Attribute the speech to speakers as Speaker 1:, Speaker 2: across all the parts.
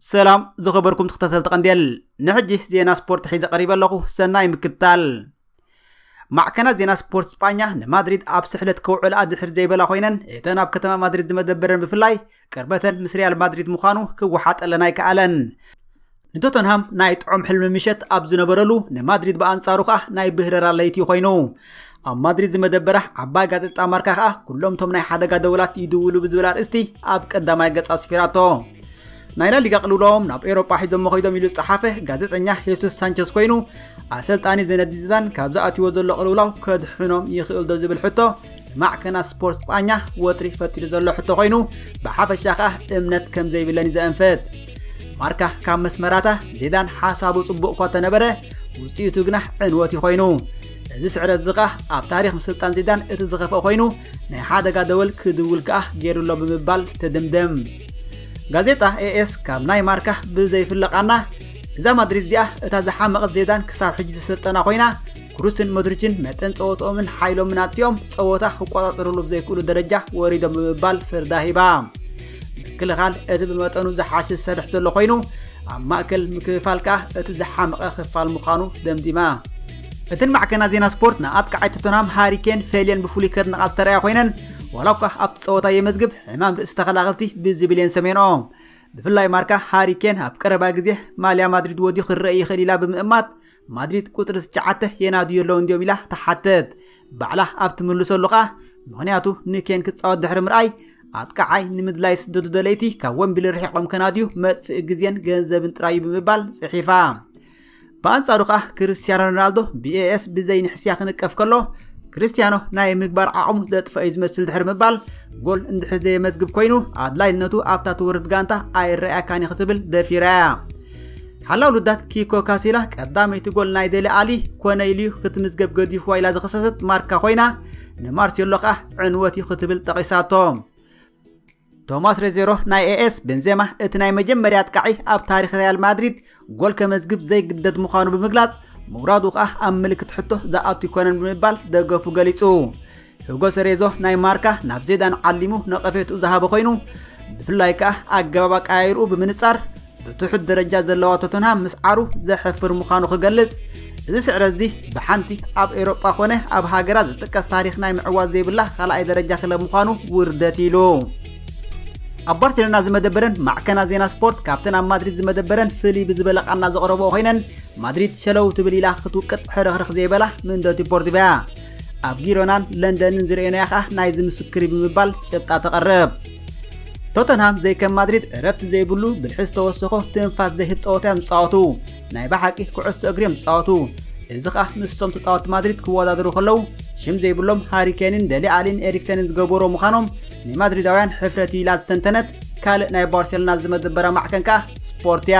Speaker 1: ሰላም ዝኸበርኩም ተኸታተልቲ ቀንዴል ንሕጂ ዜና ስፖርት ሒዘ ቀሪበ ኣለኹ ሰናይ ምክትታል ማዕከናት ዜና ስፖርት ስጳኛ ንማድሪድ ኣብ ስሕለት ከውዕልኣ ድሕር ዘይበላ ኮይነን እተን ኣብ ከተማ ማድሪድ ዝመደበረን ብፍላይ ቅርበተን ምስ ሪያል ማድሪድ ምዃኑ ክወሓጠለን ኣይከኣለን። ንቶተንሃም ናይ ጥዑም ሕልሚ ምሸት ኣብ ዝነበረሉ ንማድሪድ ብኣንጻሩ ከዓ ናይ ብህረራ ለይቲ ኮይኑ ኣብ ማድሪድ ዝመደበራ ዓባይ ጋዜጣ ማርካ ከዓ ኩሎም እቶም ናይ ሓደጋ ደወላት ይድውሉ ብዝብል ኣርእስቲ ኣብ ቀዳማይ ገጻ ኣስፊራቶ ናይ ላሊጋ ቅልውላዎም ናብ ኤሮጳ ሒዞሞ ኮይዶም ኢሉ ዝጸሓፈ ጋዜጠኛ ሄሱስ ሳንቸስ ኮይኑ ኣሰልጣኒ ዘነዲ ዚዳን ካብዚ ኣትይዎ ዘሎ ቅልውላው ከድሕኖም ይኽእልዶ ዝብል ሕቶ ንማዕከናት ስፖርት ስጳኛ ወጥሪ ፈጢሩ ዘሎ ሕቶ ኮይኑ ብሓፈሻ ከኣ እምነት ከም ዘይብለንዩ ዘእንፍት ማርካ ካብ መስመራታ ዚዳን ሓሳቡ ጽቡቕ እኳ ተነበረ ውጽኢቱ ግና ዕንወት እዩ ኮይኑ እዚ ስዕረት እዚ ከኣ ኣብ ታሪክ ምስልጣን ዚዳን እቲ ዝኸፍአ ኮይኑ ናይ ሓደጋ ደወል ክድውል ከኣ ገይሩሎ ብምባል ትድምድም ጋዜጣ ኤኤስ ካብ ናይ ማርካ ብዘይፍለቃና እዛ ማድሪድ እዚኣ እታ ዝሓመቐት ዜዳን ክሳብ ሕጂ ዘሰልጠና ኮይና ክሩስን ሞድሪችን መጠን ጸወትኦምን ሓይሎምን ኣጥቲኦም ጸወታ ክቆጻጸርሉ ብዘይክእሉ ደረጃ ወሪዶም ብምባል ፍርዳ ሂባ ምክልኻል እቲ ብመጠኑ ዝሓሸ ዝሰርሕ ዘሎ ኮይኑ ኣብ ማእከል ምክፍፋል ከኣ እቲ ዝሓመቐ ክፋል ምዃኑ ደምዲማ እትን ማዕከና ዜና ስፖርት ንኣጥቃዓይ ቶተንሃም ሃሪኬን ፌልየን ብፍሉይ ከድንቓ ዝተረኣያ ኮይነን ዋላ እኳ ኣብቲ ጸወታ የመዝግብ ሕማም ርእሲ ተኸላኸልቲ ብዝብል የን ሰሜንኦ ብፍላይ ማርካ ሃሪ ኬን ኣብ ቀረባ ግዜ ማልያ ማድሪድ ወድዩ ክረአ ይኽእል ኢላ ብምእማት ማድሪድ ቁፅሪ ትሽዓተ የናድዩ ኣለዉ እንዲዮም ኢላ ትሓትት ባዕላ ኣብ ትምልሰሉ ከኣ ምክንያቱ ንኬን ክፃወት ድሕሪ ምርኣይ ኣጥቃዓይ ንምድላይ ስደቱ ደለይቲ ካብ ወንቢል ርሒቆም ከናድዩ መጥፍኢ ግዜን ገንዘብን ጥራዩ ብምባል ጽሒፋ ብኣንጻሩ ከኣ ክርስትያኖ ሮናልዶ ብኤኤስ ብዘይ ንሕስያ ክንቀፍ ከሎ ክርስትያኖ ናይ ምግባር ዓቕሙ ዘጥፍአ እዩ ዝመስል ድሕሪ ምባል ጎል እንድሕር ዘየመዝግብ ኮይኑ ኣድላይነቱ ኣብታ ትወርድ ጋንታ ኣይረኣያካን እዩ ክትብል ደፊራ እያ ሓላው ልዳት ኪኮ ካሲላ ቀዳመይቲ ጎል ናይ ደሊ ኣሊ ኮነ ኢሉ እዩ ክትምዝገብ ገዲፍዋ ኢላ ዝኸሰሰት ማርካ ኮይና ንማርሴሎ ከኣ ዕንወት እዩ ክትብል ጠቒሳቶ ቶማስ ሬዜሮ ናይ ኤኤስ ቤንዜማ እቲ ናይ መጀመርያ ኣጥቃዒ ኣብ ታሪክ ሪያል ማድሪድ ጎል ከመዝግብ ዘይግደድ ምዃኑ ብምግላጽ ምውራዱ ከኣ ኣብ ምልክት ሕቶ ዝኣቱ ይኮነን ብምባል ደገፉ ገሊጹ ሂጎ ሰሬዞ ናይ ማርካ ናብ ዜዳን ዓሊሙ ነቐፌትኡ ዝሃበ ኮይኑ ብፍላይ ከኣ ኣገባብ ኣቀያይርኡ ብምንጻር ብትሑት ደረጃ ዘለዋ ቶተንሃም ምስዓሩ ዘሕፍር ምዃኑ ክገልጽ እዚ ስዕረት እዚ ብሓንቲ ኣብ ኤውሮጳ ኮነ ኣብ ሃገራ ዝጥቀስ ታሪኽ ናይ ምዕዋት ዘይብላ ካልኣይ ደረጃ ክለብ ምዃኑ ውርደት ኢሉ ኣብ ባርሴሎና ዝመደበረን ማዕከና ዜና ስፖርት ካብተን ኣብ ማድሪድ ዝመደበረን ፍልይ ብዝበለ ቃና ዘቕረቦ ኮይነን ማድሪድ ሸለው ትብል ኢላ ክትውቅጥ ሕርኽርኽ ዘይበላ ምንደቲ ፖርትቪያ ኣብ ጊሮናን ለንደንን ዝርእየናያ ከኣ ናይዚ ምስክሪ ብምባል ጭብጣ ተቐርብ ቶተንሃም ዘይከም ማድሪድ ዕረፍቲ ዘይብሉ ብልሒ ዝተወሰኾ ትንፋስ ዘይህብ ፀወታ እዮም ዝፃወቱ ናይ ብሓቂ ኩዕሶ እግሪ እዮም ዝፃወቱ እዚ ከዓ ምስቶም ተፃወቲ ማድሪድ ክወዳደሩ ከለው ሽም ዘይብሎም ሃሪኬንን ደሊ ኣሊን ኤሪክሰንን ዝገበሮ ምዃኖም ንማድሪዳውያን ሕፍረት ኢላ ዝተንተነት ካልእ ናይ ባርሴሎና ዝመደበራ ማዕከን ከዓ ስፖርት እያ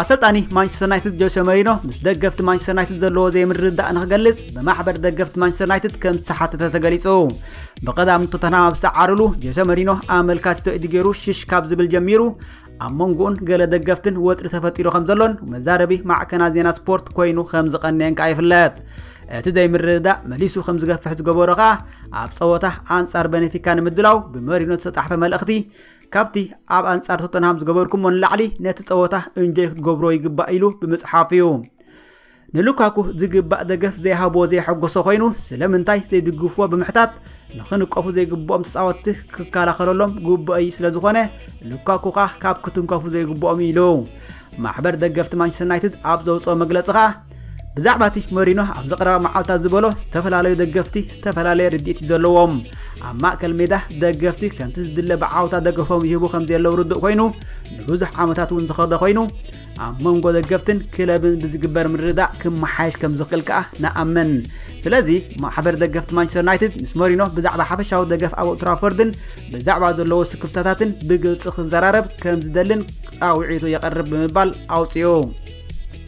Speaker 1: ኣሰልጣኒ ማንቸስተር ዩናይትድ ጆሴ መሪኖ ምስ ደገፍቲ ማንቸስተር ዩናይትድ ዘለዎ ዘይምርድዳእ ንክገልጽ ብማሕበር ደገፍቲ ማንቸስተር ዩናይትድ ከም ዝተሓተተ ተገሊጹ ብቐዳም ቶተንሃም ኣብ ዝተዓርሉ ጆሴ መሪኖ ኣመልካቲቶ ኢዱ ገይሩ ሽሽ ካብ ዝብል ጀሚሩ ኣብ መንጎኡን ገለ ደገፍትን ወጥሪ ተፈጢሩ ከም ዘሎን መዛረቢ ማዕከና ዜና ስፖርት ኮይኑ ከም ዝቐነየን ከዓ ይፍለጥ እቲ ዘይምርድዳእ መሊሱ ከም ዝገፍሕ ዝገበሮ ከዓ ኣብ ፀወታ ኣንጻር በነፊካ ንምድላው ብመሪኖ ዝተጣሕፈ መልእኽቲ ካብቲ ኣብ ኣንጻር ቶተንሃም ዝገበርኩሞ ንላዕሊ ነቲ ጸወታ እንጆይ ክትገብሮ ይግባእ ኢሉ ብምጽሓፍ እዩ ንሉካኩ ዝግባእ ደገፍ ዘይሃቦ ዘየሐጎሶ ኮይኑ ስለምንታይ ዘይድግፍዎ ብምሕታት ንክንቀፉ ዘይግብኦም ተፃወትቲ ክከላኸለሎም ግቡእይ ስለ ዝኾነ ሉካኩ ከዓ ካብ ክትንከፉ ዘይግብኦም ኢሉ ማሕበር ደገፍቲ ማንቸስተር ዩናይትድ ኣብ ዘውፅኦ መግለፂ ከዓ ብዛዕባ እቲ መሪኖ ኣብዚ ቀረባ መዓልታት ዝበሎ ዝተፈላለዩ ደገፍቲ ዝተፈላለየ ርድኢት እዩ ዘለዎም ኣብ ማእከል ሜዳ ደገፍቲ ከምቲ ዝድለ ብዓወታ ደገፎም ይህቡ ከም ዘለዉ ርዱእ ኮይኑ ንብዙሕ ዓመታት እውን ዝኸደ ኮይኑ ኣብ መንጎ ደገፍትን ክለብን ብዝግበር ምርዳእ ክመሓየሽ ከም ዝኽእል ከኣ ንኣምን ስለዚ ማሕበር ደገፍቲ ማንቸስተር ዩናይትድ ምስ መሪኖ ብዛዕባ ሓፈሻዊ ደገፍ ኣብ ኦልትራፎርድን ብዛዕባ ዘለዎ ስክፍታታትን ብግልፂ ክዘራረብ ከም ዝደልን ፃውዒቱ የቐርብ ብምባል ኣውፅኡ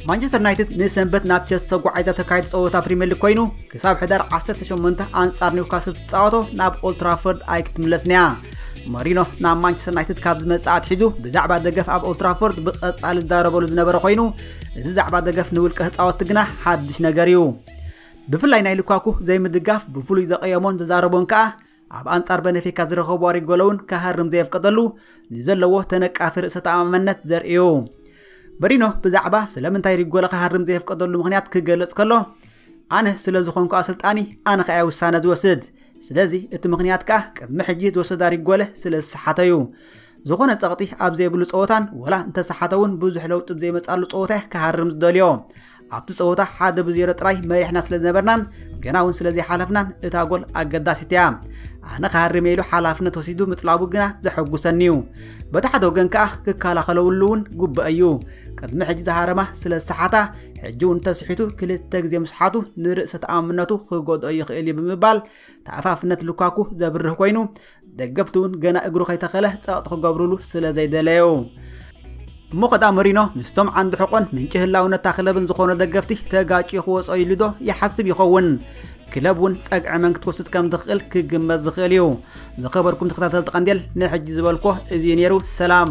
Speaker 1: ማንቸስተር ዩናይትድ ንሰንበት ናብ ቸልሲ ተጓዒዛ ተካይድ ፀወታ ፕሪምየር ሊግ ኮይኑ ክሳብ ሕዳር 18 ኣንጻር ኒውካስል ትፃወቶ ናብ ኦልትራፎርድ ኣይክትምለስን እያ መሪኖ ናብ ማንቸስተር ዩናይትድ ካብ ዝመፅእ ኣትሒዙ ብዛዕባ ደገፍ ኣብ ኦልትራፎርድ ብቐጻሊ ዝዛረበሉ ዝነበረ ኮይኑ እዚ ዛዕባ ደገፍ ንውልቀ ህፃወቲ ግና ሓድሽ ነገር እዩ ብፍላይ ናይ ልኳኩ ዘይምድጋፍ ብፍሉይ ዘቐየሞን ዝዛረቦን ከኣ ኣብ ኣንጻር በነፊካ ዝረኸቦ ኣሪ ጎለውን ክሃርም ዘየፍቀደሉ ንዘለዎ ተነቃፊ ርእሰ ተኣማመነት ዘርእዩ በሪኖ ብዛዕባ ስለምንታይ ሪጎለ ክሃርም ዘየፍቀደሉ ምክንያት ክገልጽ ከሎ ኣነ ስለ ዝኾንኩ ኣሰልጣኒ ኣነ ከኣ ውሳነ ዝወስድ ስለዚ እቲ ምክንያት ከኣ ቅድሚ ሕጂ ዝወሰዳ ሪጎለ ስለ ዝሰሓተ እዩ ዝኾነ ጸቕጢ ኣብ ዘይብሉ ጸወታን ወላ እንተሰሓተ እውን ብዙሕ ለውጢ ዘይመጻሉ ጸወታ ክሃርም ዝደልዮ ኣብቲ ጸወታ ሓደ ብዜሮ ጥራይ መሪሕና ስለ ዝነበርናን ገና እውን ስለ ዘይሓለፍናን እታ ጎል ኣገዳሲት እያ ኣነ ክሃርመ ኢሉ ሓላፍነት ወሲዱ ምጥላቡ ግና ዘሐጉሰኒ እዩ በቲ ሓደ ወገን ከኣ ክከላኸለውሉ እውን ጉበእ እዩ ቅድሚ ሕጂ ዝሃረማ ስለ ዝሰሓታ ሕጂ እውን ተስሒቱ ክልተ ግዜ ምስሓቱ ንርእሰ ተኣምነቱ ክጎድኦ ይኽእል እዩ ብምባል ተኣፋፍነት ልኳኩ ዘብርህ ኮይኑ ደገፍቲ እውን ገና እግሩ ከይተኸለ ጸቕጢ ክገብሩሉ ስለ ዘይደለዩ እሞ ከዳ መሪኖ ምስቶም ዓንዲ ሕቆን ምንጪ ህላውነታ ክለብን ዝኾኑ ደገፍቲ ተጋጭ ክወፅኦ ኢሉ ዶ ይሓስብ ይኸውን ክለብ እውን ጸግዒ መን ክትወስድ ከም ትኽእል ክግመት ዝኽእል እዩ ዝኸበርኩም ተኸታተልቲ ቀንዴል ናይ ሕጂ ዝበልኮ እዚ ነይሩ ሰላም